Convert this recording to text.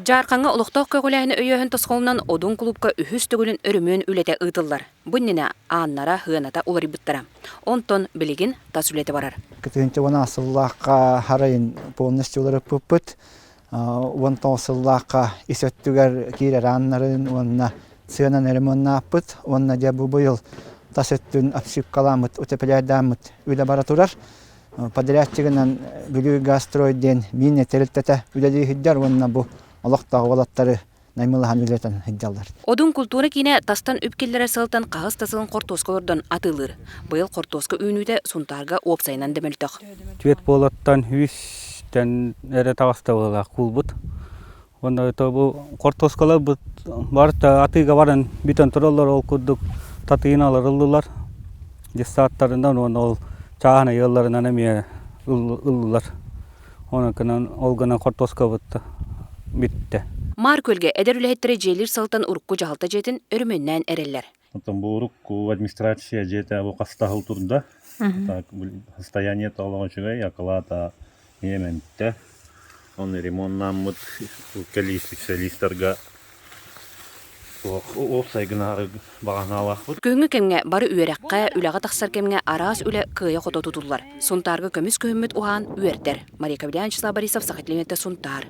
Дьаархаҥҥа олохтоох көҕүлээһини өйөөһүн тосхолунан Одун кулуупка үһүс төгүлүн өрөмүөн үлэтэ ыытыллар. Бу иннинэ Ааннара ыаната уларыйбыттара. Онтон билигин тас үлэтэ барар. Кытыынча уон сыллаахха хар айын полностью уларыппыппыт. Уон тоҕус сыллаахха ис өттүгэр киирэр ааннарын уонна сыанан ремоннааппыт. Уонна дьэ бу быйыл тас өттүн обшивкаламмыт, утепляйдааммыт үлэ бара турар. подрядчигынан Бүлүү Газстрой диэн миинэ тэрилтэтэ үлэлииһийдэр уонна бу олохтоох уолаттары наймылаһан үлэтин ыйдаллар. Одун култуура киинэ тастан үп киллэрэр сылтан хаһыс да сылын хортуоска олордон атыылыыр. Быйыл хортуоска үүнүүтэ Сунтаарга уопсайынан да мөлтөх. Түөрт буолаттан үс эрэ таҕыстабыллаах куулбут. Уонна бу хортуоскалар бары атыыга баран бүтэн тураллар, ол курдук татыыны ыллылар десантарынан уонна ол чааһын ыйылларынан эмиэ ыллылар. Онон гынан ол гынан хортуоскабыт бүттэ. Маар күөлгэ эдэр үлэһиттэрэ дьиэлиир сылтан урукку дьаһалта дьиэтин өрөмүөннээн эрэллэр. Оттон бу урук администрация дьиэтэ бу хастаһыл турда. Так состояние толоҕо үчүгэй, акылаат миэмэнтэ. Оны ремонтнааммыт кэлиисиспециалистарга уопсайгынаары баҕанаалаахпыт. Күһүҥҥү кэмҥэ бары үөрэххэ, үлэҕэ тахсар кэмҥэ араас үлэ кыайа-хото тутуллар. Сунтаарга көмүс күһүммүт уһаан үөрдэр. Мария Ковлиан, Вячеслав Борисов, Сахатлиниттэ Сунтаар.